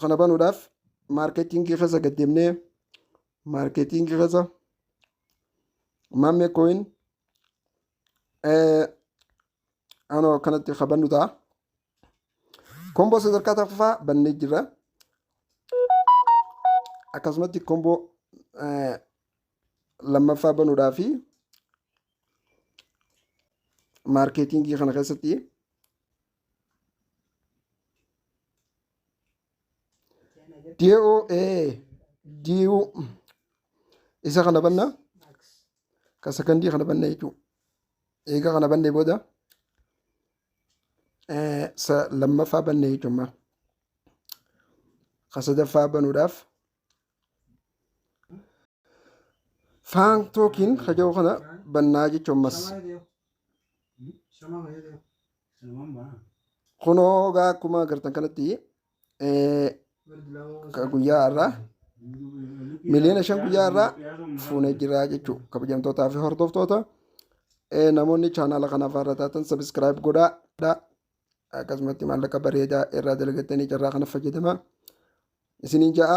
kana banuudhaaf maarkeetingii keessa gad deemnee maarkeetingii keessa maammee kooyin anoo kanatti ka bannu ta'a. Komboo sadarkaa tokkoffaa bannee jirra. Akkasumatti komboo lammaffaa banuudhaa fi maarkeetingii kana keessatti Di'oo ee di'uu isa kana banna ka sakandii kana banna jechuudha. Eega kana bannee booda eh, sa lammaffaa banne jechuudha. Ka sadaffaa banuudhaaf faan tookiin ka jedhu kana bannaa jechuudha ammas. kunoo egaa akkuma agartan kanatti eh, ka guyyaa har'aa miliyoona shan guyyaa har'aa fuunee jira jechuu kabajamtootaa fi hordoftoota eh, namoonni chaanaala kanaaf haara taatan sabiskiraayib godhaa dha. akkasumatti maallaqa bareedaa irraa dalagattanii carraa kana fayyadama isiniin ja'a